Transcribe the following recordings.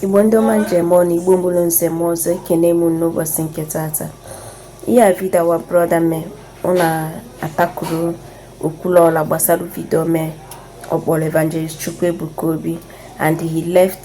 igbo ndị ọma ndị eji eme ọnụ igbo mụrụ nze mụọ ọzọ ekene m n'ụbọchị nke tata ihe a vidio our brọda me ọ na-atackle okwuluọra gbasara vidio me ọ kpọrọ evangelist chukwuebuka obi and he left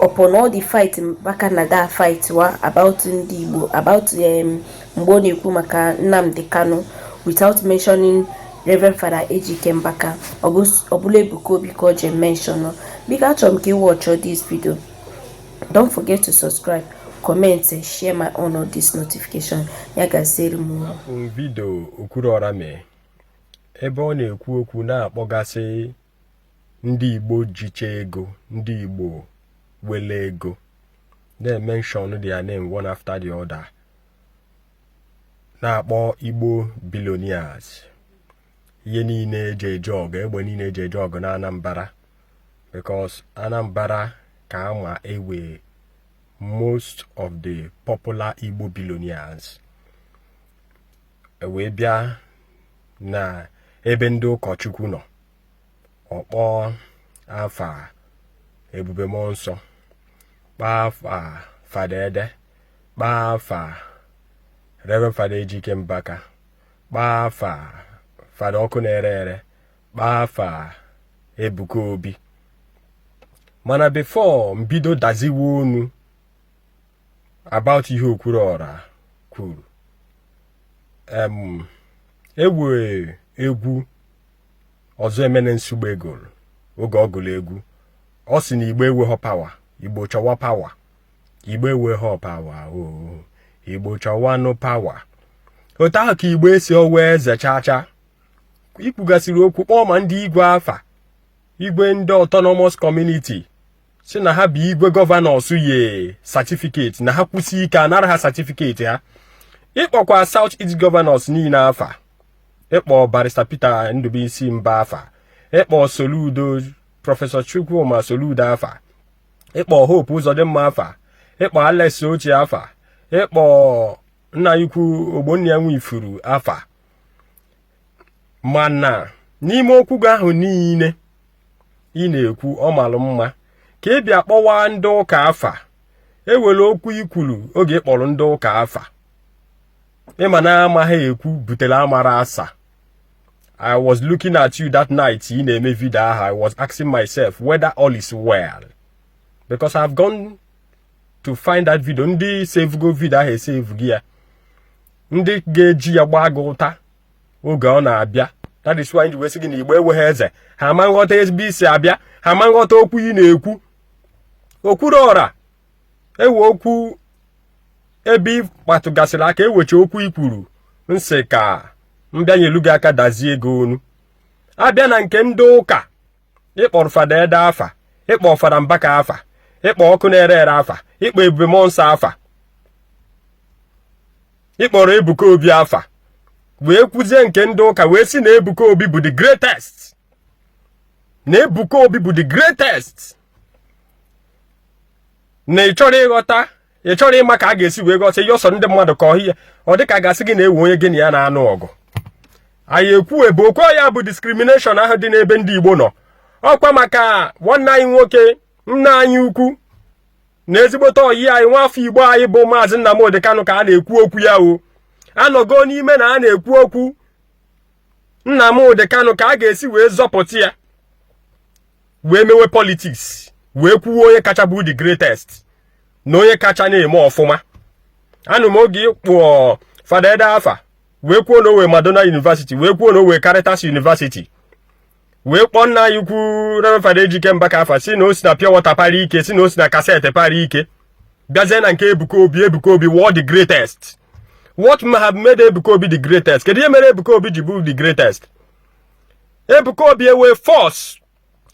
upon all the fight Mbaka na da fight wa about ndị Igbo about um, mgbe ọ na-ekwu maka Nnamdi Kanu without mentioning Reverend Father Ejike Mbaka ọ bụlụ Ebuka Obi ka o je mention biko achọrọ m ka ị watch this video don't forget to subscribe comment share my own on this notification ya gaziere m vidio Okwuluọra mee ebe ọ na-ekwu okwu na-akpọgasị ndị Igbo jicha ego ndị Igbo wele ego na-emention their name one after the other na-akpọ Igbo billionaires ihe niile eji eje ọgụ egbe niile eji eje ọgụ na Anambra because Anambra ka ama ewe most of the popular Igbo billionaires e wee bịa na ebe ndị ụkọchukwu nọ ọ kpọọ afa ebube mmụọ nsọ kpọọ afa fada ede kpọọ afa reverend fada ejike mbaka kpọọ afa fada ọkụ na-ere ere kpọọ afa ebuka obi mana bifo m bido daziwe unu about ihe okwuluọra kwuru ewe egwu ọzọemena nsugbe gụrụ oge ọ gụrụ egwu ọ sị na igbo enweghọ pawa igbo chọwa pawa igbo enweghọ pawa oo igbo chọwanụ pawa otu ahụ ka igbo esi owe eze chacha i kwugasịrị okwu kpọọ ma ndị igwe afa igwe ndị autonomous community sị na ha bụ igwe gọvanọs ye satifiketi na ha kwusie ike a nara ha satifiketi ha ị kpọkwa South East gọvanọs niile afa ịkpọ barista Peter Ndubuisi Mbah afa ịkpọ Soludo prọfesọ Chukwuma Soludo afa ịkpọ Hope Uzodimma afa ịkpọ Alex Otti afa ịkpọ nna ukwu Ogbonnaya Nwifuru afa mana n'ime okwu gị ahụ niile ị na-ekwu ọ malụ mma ka ị bịa kpọwa ndị ụka afa ewere okwu i kwuru oge ị kpọrọ ndị ụka afa ị ma na amaghị ekwu butere amara asa I was looking at you that night ị na-eme vidio ahụ I was asking myself whether all is well because I've gone to find that video ndị sevugo vidio ahụ esevugo ya ndị ga-eji ya gbaa gị ụta oge ọ na-abịa that is why ji wee sị gị na igbo enweghị eze ha ama nghọta ebe i si abịa ha ama nghọta okwu ị na-ekwu okwuluọra ewe okwu ebe ị kpatụgasịrị aka ewecha okwu i kwuru nsị ka m bịa nyelu gị aka dazie ego ọnụ abịa na nke ndị ụka ị kpọrọ fada ede afa ị kpọọ fada mbaka afa ị kpọọ ọkụnerere afa ị kpọọ ebube mụọnsọ afa ị kpọrọ ebuka obi afa wee kwuzie nke ndị ụka wee sị na ebuka obi bụ the greatest na ebuka obi bụ the greatest na ị chọrọ ịghọta ị chọrọ ịma ka a ga-esi wee gosi ihe ọsọ ndị mmadụ ka ọhịa ọ dị ka a ga-asị gị na ewe onye gị na ya na-anụ ọgụ anyị ekwube okwu ya bụ discrimination ahụ dị n'ebe ndị Igbo nọ ọkwa maka nwanne anyị nwoke nna anyị ukwu na ezigbote ọyị anyị nwa afọ Igbo anyị bụ maazị Nnamdi Kanu ka a na-ekwu okwu ya o anọgo n'ime na a na-ekwu okwu Nnamdi Kanu ka a ga-esi wee zọpụta ya wee mewe politics wee kwuwe onye kacha bụ the greatest na onye kacha na-eme ọfụma anụ m oge ị kpọọ fada ede afa wee kwuo na owe madonna university wee kwuo na owe caritas university wee kpọọ nna anyị ukwu reverend fada ejike mbaka afa sị na o si na pure water para ike si na o si na cassette para ike bịazie na nke ebuka obi ebuka obi wụọ the greatest what may have made ebuka obi the greatest kedu ihe mere ebuka obi ji bụ the greatest Ebuka Obi ewe force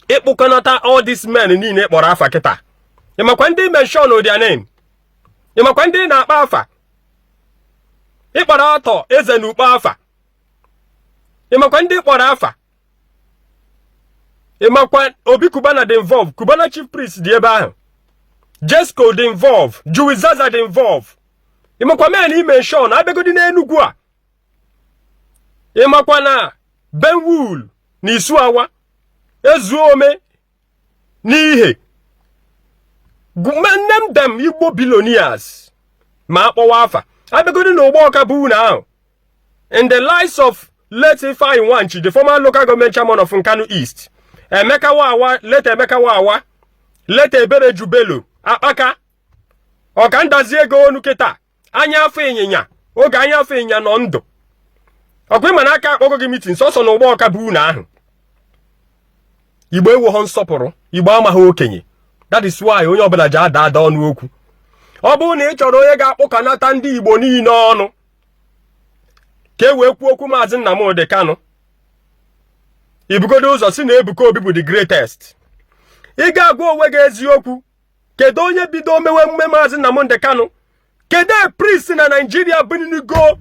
ịkpụkọnata all these men niile ị kpọrọ afa kịta ị makwa ndị i mention their name ị makwa ndị ị na-akpọ afa ị kpọrọ arthur eze na ukpo afa ị makwa ndị ị kpọrọ afa ị makwa obi cubana dị involve cubana chief priest dị ebe ahụ jesco dị involve jowizaza dị involve ị makwa men i mention abịagodi n'enugwu a ị makwa na benwul na isuawa ezuome n'ihe name them igbo billionaires ma akpọwa afa abịagodi na Ugbawka be unu ahụ in the likes of late Ifeanyi Nwanchi the former local government chairman of Nkanu East Emeka Wawa late Emeka Wawa late Ebere Jubelo Akpaka ọka ndazi ego ọnụ kịta anya afọ ịnyịnya oge anya afọ ịnyịnya nọ ndụ ọkwa ị ma na a ka akpọgo gị meeting sọsọ na Ugbawka be unu ahụ igbo ewoghọ nsọpụrụ igbo amaghị okenye that is why onye ọbụla ji ada ada ọnụ okwu ọ bụrụ na ị chọrọ onye ga-akpụkanata ndị igbo niile ọnụ ka e wee kwuo okwu maazị Nnamdi Kanu i bugodo ụzọ sị na Ebuka Obi bụ the greatest ị ga-agwa onwe gị eziokwu kedu onye bido mewe emume maazị Nnamdi Kanu kedu priest na Nigeria binigo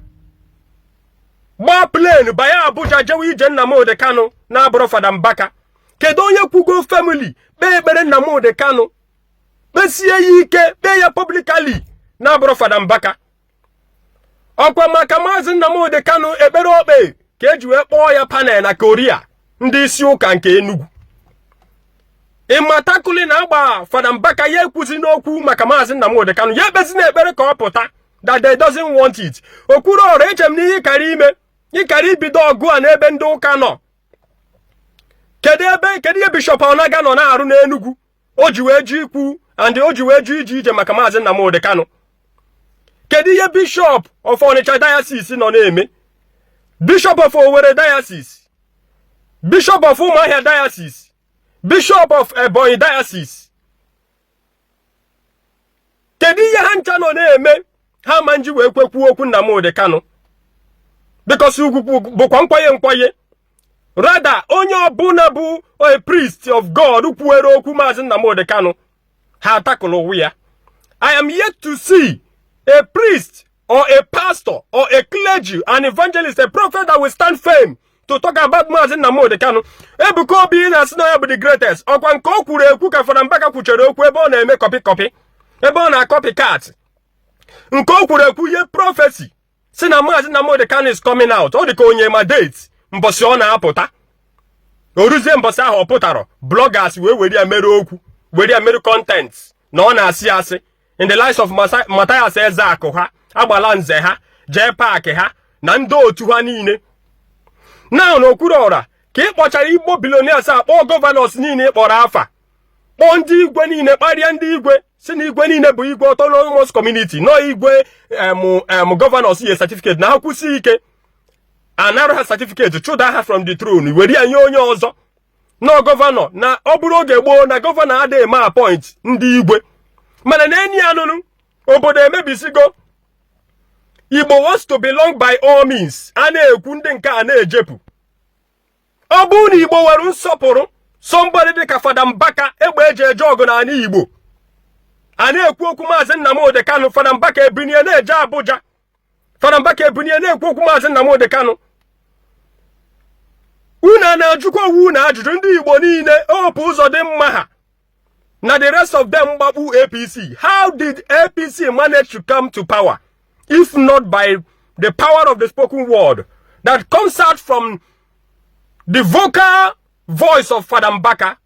gbaa plane banye Abuja jewe ije Nnamdi Kanu na-abụrụ Fada Mbaka kedu onye kwụgo firmly kpee ekpere Nnamdi Kanu kpesie ya ike kpee ya publicly na-abụrụ Fada Mbaka ọkwa maka maazị Nnamdi Kanu ekpere o kpe ka e ji wee kpọọ ya panel na curia ndị isi ụka nke Enugu ịmatakuli na agba fada mbaka ya ekwuzina okwu maka maazị Nnamdi Kanu ya ekpezina ekpere ka ọ pụta that they doesn't want it Okwuluora eche m na ihe ị kara ime ị kara ibido ọgụ a n'ebe ndị ụka nọ kedu ihe bishop Onaga nọ na-arụ n'Enugu o ji wee jụ ikwu and o ji wee jụ ije ije maka maazị Nnamdi Kanu kedu ihe bishop of Onitsha diocese nọ na-eme bishop of Owerri diocese bishop of Umuahia diocese bishop of Ebonyi diocese kedu ihe ha ncha nọ na-eme ha ma nji wee kwekwuo okwu Nnamdi Kanu because ugwu bụkwa nkwanye nkwanye rather onye ọbụla bụ a priest of God kwuwere okwu maazị Nnamdi Kanu ha atakụrụ ụwa ya I am yet to see a priest or a pastor or a clergy, an evangelist, a prophet that will stand firm to talk about Mazi Nnamdi Kanu. Ebuka Obi na-asị na ya bụ the greatest. Ọkwa nke o kwuru ekwu ka Fada Mbaka kwuchere okwu ebe ọ na-eme copy copy ebe ọ na-acopy cat nke o kwuru ekwu ye prophecy sị na Mazi Nnamdi Kanu is coming out ọ dị ka onye ma date mbọsị ọ na-apụta o ruzie mbọsị ahụ ọ pụtarọ bloggers wee were ya mere okwu were ya mere content na ọ na-asị asị in the likes of Matthias Ezeaku ha Agbalanze ha jee paakị ha na ndị otu ha niile now Okwuluora ka ị kpọchara igbo billionaires akpọ governors niile ị kpọrọ afa kpọọ ndị igwe niile kparịa ndị igwe sị na igwe niile bụ igwe autonomous community na igwe em governors ye certificate na ha kwusi ike a nara ha certificate chụda ha from the throne were ya nye onye ọzọ na governor na ọ bụrụ oge gboo na governor adịghị eme appoint ndị igwe mana na enyi ya nụnụ obodo emebisigo igbo wants to belong by all means a na-ekwu ndị nke a na-ejepụ ọ bụrụ na igbo nwere nsọpụrụ somebody dịka fada mbaka egbe e ji eje ọgụ n'anị igbo a na-ekwu okwu maazị Nnamdi Kanu fada mbaka ebinie na-eje Abuja Fada Mbaka ebinie na-ekwu okwu maazị Nnamdi Kanu unu a na-ajụkwa onwe unu ajụjụ ndị Igbo niile Hope Uzodinma ha na the rest of them gbakpu APC how did APC manage to come to power if not by the power of the spoken word that comes out from the vocal voice of Fada Mbaka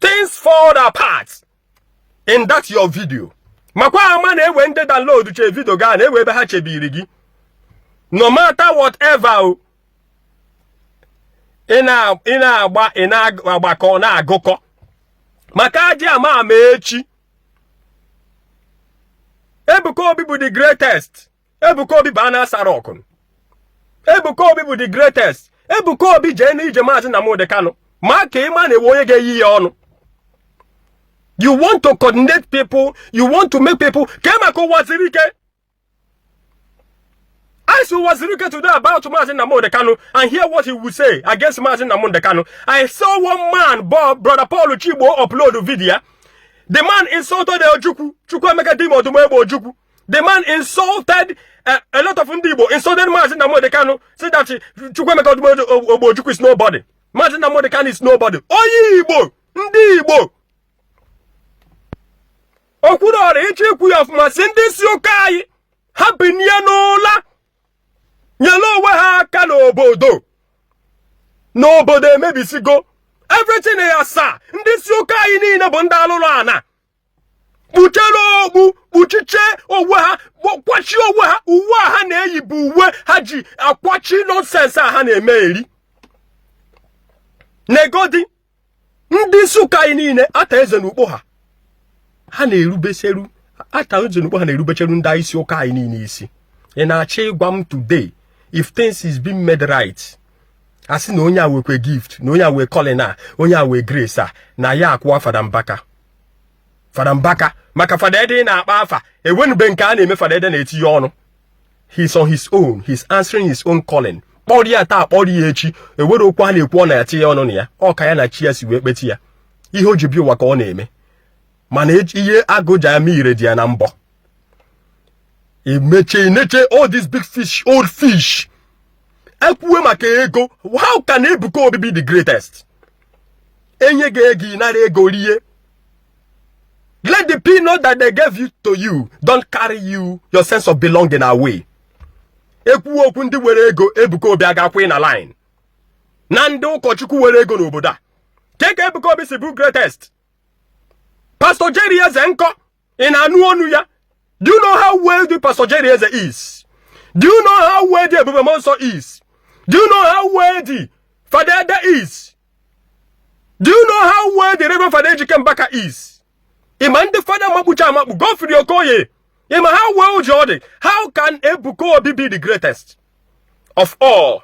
things fall apart in that your video makwa ama na ewe ndị download che video gaa na ewe ebe ha chebiri gị no matter whatever o ị na-agba ị na-agbakọ na-agụkọ maka ajị ama ama echi Ebuka Obi bụ the greatest Ebuka Obi baa na asara ọkụ Ebuka Obi bụ the greatest Ebuka Obi jee n'ije maazị Nnamdi Kanu ma ka ịma na ewe onye ga-eyi ya ọnụ you want to coordinate people you want to make people kee maka Uwazuruike ask Uwazuruike today about Maazị Nnamdi Kanu and hear what he would say against Maazị Nnamdi Kanu I saw one man bụ brother Paul Chigbo upload video the man insulted Ojukwu Chukwuemeka Dim Odumegwu Ojukwu the man insulted uh, a lot of ndị Igbo insulted Maazị Nnamdi Kanu say that Chukwuemeka Odumegwu Ojukwu is nobody Maazị Nnamdi Kanu is nobody onye Igbo ndị Igbo Okwuluọra ịchọ ikwu ya ọfụma sị ndị isi ụka anyị ha binye n'ụla nyere onwe ha aka n'obodo na obodo emebisigo everything ya asaa ndị isi ụka anyị niile bụ ndị alụrụ ana kpuchere okpu kpuchiche onwe ha kwachie onwe ha uwe a ha na-eyi bụ uwe ha ji akwachi nonsense a ha na-eme eri negodi ndị isi ụka anyị niile Arthur Eze na Ukpo ha ha na-erubeseru Arthur Eze na Ukpo ha na-erubecheru ndị isi ụka anyị niile isi ị na-achọ ịgwa m today if things is being made right asị na onye a wekwe gift na onye a wee calling a onye a wee grace a na ya akwụwa Fada Mbaka Fada Mbaka maka Fada Ede ị na-akpa afa enwenụ ebe nke a na-eme Fada Ede na-etinye ọnụ he's on his own he's answering his own calling kpọrị ya taa kpọrị ya echi ewere okwu a na-ekwu ọ na-etinye ọnụ na ya ọ ka ya na chi ya si wee kpeti ya ihe o ji bịa ụwa ka ọ na-eme mana ihe agụ ji eme ire dị ya na mbọ imeche ineche all these big fish old fish ekwuwe maka ego how can Ebuka Obi be the greatest enye gị ego ị nara ego rie let the peanut that they gave you to you don't carry you your sense of belonging away ekwuwe okwu ndị were ego Ebuka Obi agakwaghị na line na ndị ụkọchukwu were ego n'obodo a kee ka Ebuka Obi si bụ greatest Pastor Jerry Eze nkọ ị na-anụ ọnụ ya do you know how well the pastor Jerry Eze is do you know how well the Ebube Monso is do you know how well the Fada Ede is do you know how well the Reverend Fada Ejike Mbaka is ị ma ndị fada makpucha amakpu Godfrey Okoye ị ma how well ji ọ dị how can Ebuka Obi be the greatest of all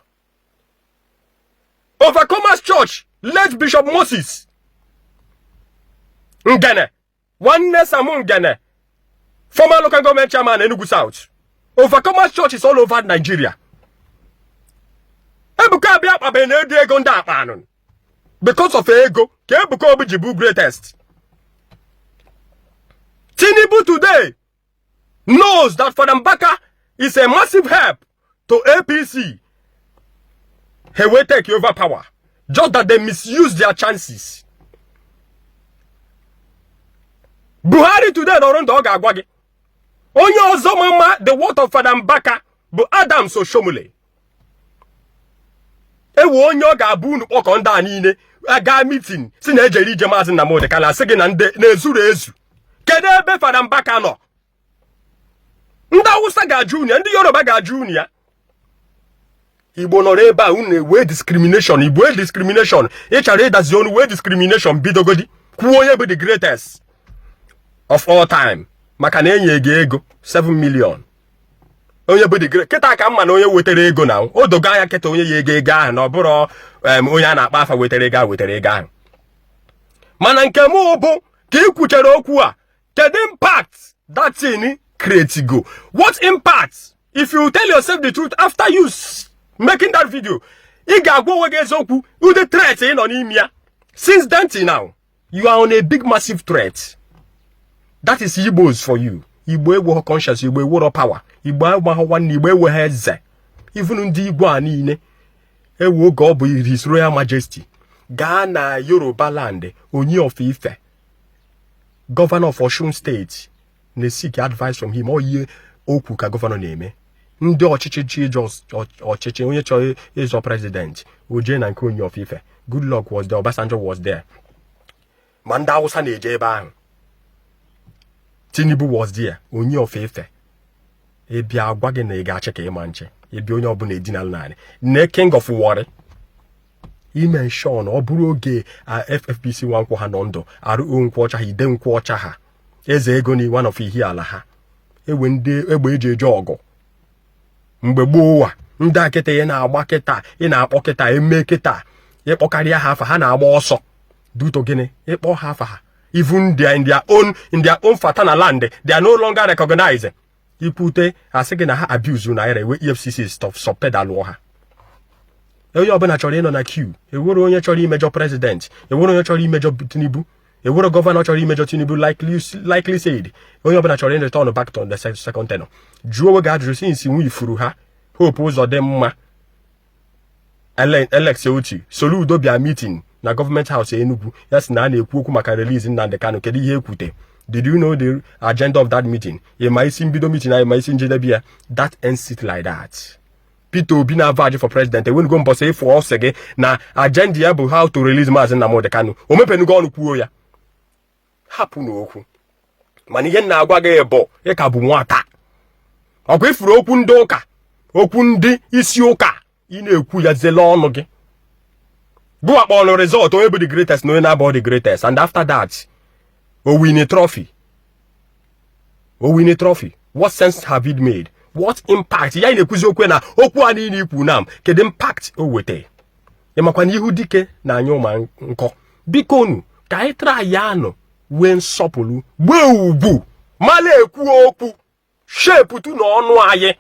Overcomers Church late Bishop Moses Ngene nwanne Sam Ngene former local government chairman Enugu South overcomers churches all over Nigeria Ebuka Obi akpabeghị nụ ụdị ego ndị a kpanụ because of ego ka Ebuka Obi ji bụ greatest Tinubu today knows that Fada Mbaka is a massive help to APC. He will take over power. Just that they misuse their chances. Buhari today nọrọ ndụ ọ ga-agwa gị onye ọzọ mama the worth of Fada Mbaka bụ Adams Oshiomhole ewe onye ọ ga-abụ unu kpọkọ ndị a niile aga mitin sị na ejere ije maazị Nnamdi Kanu asị gị na ndị na-ezuru ezu kedu ebe Fada Mbaka nọ ndị Awụsa ga-ajụ unu ya ndị Yoruba ga-ajụ unu ya igbo nọrọ ebe a unu wee discrimination igbo wee discrimination ị chọrọ ịdazi ọnụ wee discrimination bidogodi kwuo onye bụ the greatest of all time maka na enye gị ego 7 million onye bụ the great kịta ka mma na onye wetara ego na o dogo anya kịta onye ya ego ahụ na ọ bụrụ onye a na-akpa afa wetara ego ahụ mana nke m bụ ka ị kwuchara okwu a kedu impact that thing create go what impact if you tell yourself the truth after you making that video ị ga-agwa onwe gị eziokwu ụdị threat ị nọ n'ime ya since then till now you are on a big massive threat that is igbos for you igbo eweghọ conscience igbo ewero power igbo amaghọ nwanne igbo ewegha eze even ndị igwe a niile ewe oge ọ bụ his royal majesty gaa na yoruba land Ooni of Ife gọvanọ of Osun State na-eseek advice from him ọ ihe o kwu ka gọvanọ na-eme ndị ọchịchị chọ ịzọ ọchịchị onye chọrọ ịzọ prezident o je na nke Ooni of Ife Goodluck was there Obasanjo was there ma ndị Awụsa na-eje ebe ahụ Tinubu was there Ooni of Ife ebi agwa gị na ị ga-achị ka ịma nche ebi onye ọbụla edinala naanị nee king of Warri I'm sure na ọ bụrụ oge FFBC Nwankwo ha nọ ndụ R.O. Nkwocha ha Ide Nkwocha ha Ezego na one of Ihiala ha ewe ndị egbe eji eje ọgụ mgbe gboo ụwa ndị a kịta ị na-agba kịta ị na-akpọ kịta eme kịta ịkpọkarịa ha afa ha na-agba ọsọ due to gịnị ịkpọ ha afa ha even their in their own in their own paternal land they are no longer recognized ikwute asị gị na ha abuse naira ewe EFCC soft pedalụọ ha onye ọbụla chọrọ ịnọ na queue ewero onye chọrọ imejọ president ewero onye chọrọ imejọ Tinubu ewero gọvanọ chọrọ imejọ Tinubu likely said onye ọbụla chọrọ ịreturn back to the second tenure jụọ onwe gị ajụjụ since nwe ị fụrụ ha Hope Uzodinma Alex Otti Soludo bịa mitin na government house Enugu ya sị na a na-ekwu okwu maka release Nnamdi Kanu kedu ihe ekwute did you know the agenda of that meeting ịma isi mbido meeting ahụ ịma isi njedebe ya that ends it like that Peter Obi na avaji for president enwenugo mbọsị ị fụ ọ sị gị na agenda ya bụ how to release Maazị Nnamdi Kanu o mepenugo ọnụ kwuo ya hapụnụ okwu mana ihe m na-agwa gị bụ ị ka bụ nwata ọkwa ị fụrụ okwu ndị ụka okwu ndị isi ụka ị na-ekwu ya zele ọnụ gị gụwa kpọrọ result onye bụ the greatest na onye na-abụ the greatest and after that o win trophy o win trophy what sense have it made what impact ya na-ekwuzi okwe na okwu a niile ikwu na m kedu impact o wete ị makwa na ihu dike na-anyụ mma nkọ bikonu ka anyị tara ya anụ were nsọpụrụ gbee ugwu mala ekwu okwu shi apụta na ọnụ anyị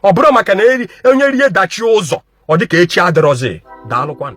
ọ bụrụ maka na onye rie dachie ụzọ ọ dịka echi adịrọzi daalụkwanụ